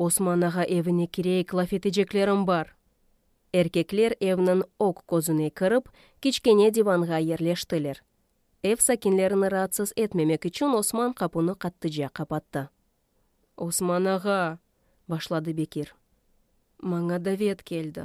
Osman ağa evine kireyik, laf eteceklerim bar. Erkekler evniñ oq közüne kirip, kiçkene divanğa yerleştiler. Ev sakinlerini raatsız etmemek içün Osman qapunı qattıca qapattı. Osman ağa! başladı Bekir. Maña davet keldi.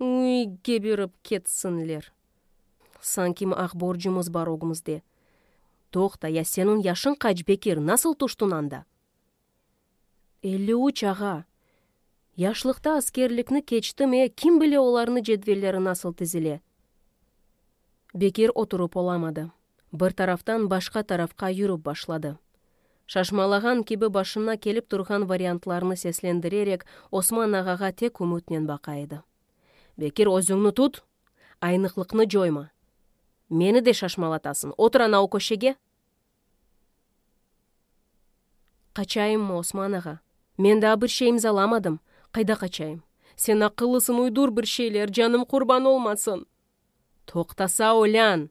Üy, gebirip ketsinler! Sanki mi aq borcumız bar ögmizde. Toqta, ya senin yaşın qaç, Bekir, nasıl tüştün anda? Elli üç, ağa! Yaşlıqta askerlikni keçtim, e, kim bile olarnı cedvelleri nasıl tizile? Bekir oturıp olamadı. bir taraftan başqa tarafqa yürüp başladı. Şaşmalağan kibi başına kelip turğan variantlarnı seslendirerek Osman ağağa tek ümütnen baqa edi. Bekir, özüñni tut! Aynıqlıqnı coyma! Meni de şaşmalatasıñ, otur ana o köşege! Qaçayımmı, Osman ağa? Men daa bir şey imzalamadım, qayda qaçayım? Sen aqıllısıñ, uydur bir şeyler, canım qurban olmasın! Toqtasa, ölân!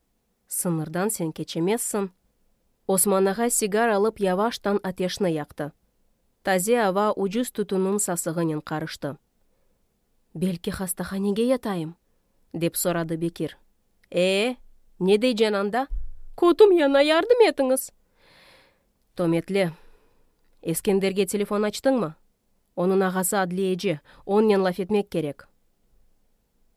Sıñırdan sen keçemezsiñ. Osman ağa sigar alıp yavaştan ateşni yaqtı. Taze ava ucuz tütünniñ sasığınen qarıştı. Belki hastahanege yatayım? dep soradı Bekir. Ee, ne deycen anda? Kötüm yana, yardım etiñiz! Tömetle. Eskenderge telefon açtıñmı? Onıñ ağası adliyeci, onnen laf etmek kerek.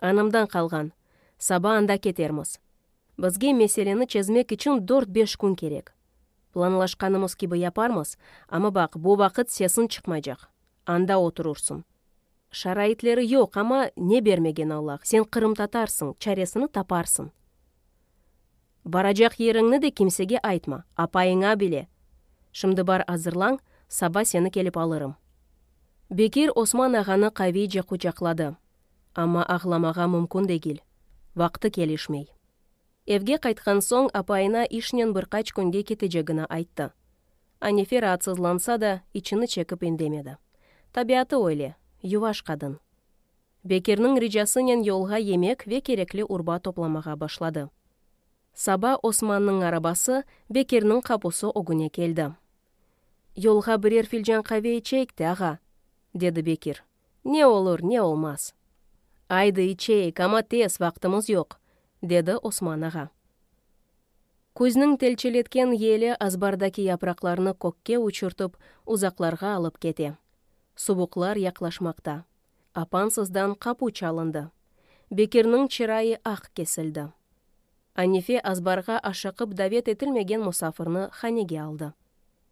Anamdan qalğan. Saba anda ketermiz. Bizge meseleni çezmek içün dört-beş kün kerek. Planlaşqanımız kibi yaparmız, amma baq, bu vaqıt sesiñ çıqmaycaq. Anda oturursıñ. Şaraitleri yoq, amma ne bermegen Allah, sen qırımtatarsıñ, çaresini taparsıñ. Baracaq yeriñni de kimsege aytma, apayıña bile. Şimdi bar azırlañ, saba seni kelip alırım. Bekir Osman ağanı qaviyce quçaqladı. Amma ağlamağa mümkün degil, vaqtı kelişmey. Evge qaytqan soñ apayına işnen bir qaç künge ketecegini ayttı. Anefe raatsızlansa da, içini çekip indemedi. Tabiatı öyle, yuvaş qadın. Bekirniñ ricasınen yolğa yemek ve kerekli urba toplamağa başladı. Saba Osmannıñ arabası Bekirniñ qapusı ögüne keldi. Yolğa birer filcan qave içeyik de, ağa! dedi Bekir. Ne olur, ne olmaz. Aydı, içeyik, amma tez, vaqtımız yoq, dedi Osman ağa. Küzniñ telçeletken yeli azbardaki yapraqlarnı kökke uçurtıp, uzaqlarğa alıp kete. Suvuqlar yaqlaşmaqta. Apansızdan qapu çalındı. Bekirniñ çırayı aq kesildi. Anife azbarğa aşıqıp davet etilmegen musafirni hanege aldı.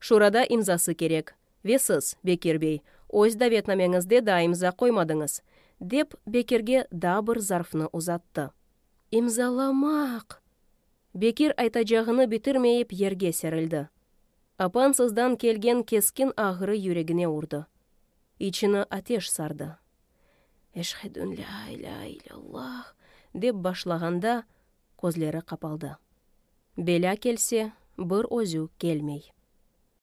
Şurada imzası kerek. Ve siz, Bekir bey, öz davetnameñizde daa imza qoymadıñız, dep, Bekirge daa bir zarfnı uzattı. İmzalamaq! Bekir aytacağını bitirmeyip yerge serildi. Apansızdan kelgen keskin ağrı yüregine urdı. İçini ateş sardı. Eşhedün lâ ilâ ilâllah, dep başlağanda, közleri qapaldı. Belâ kelse, bir özü kelmey.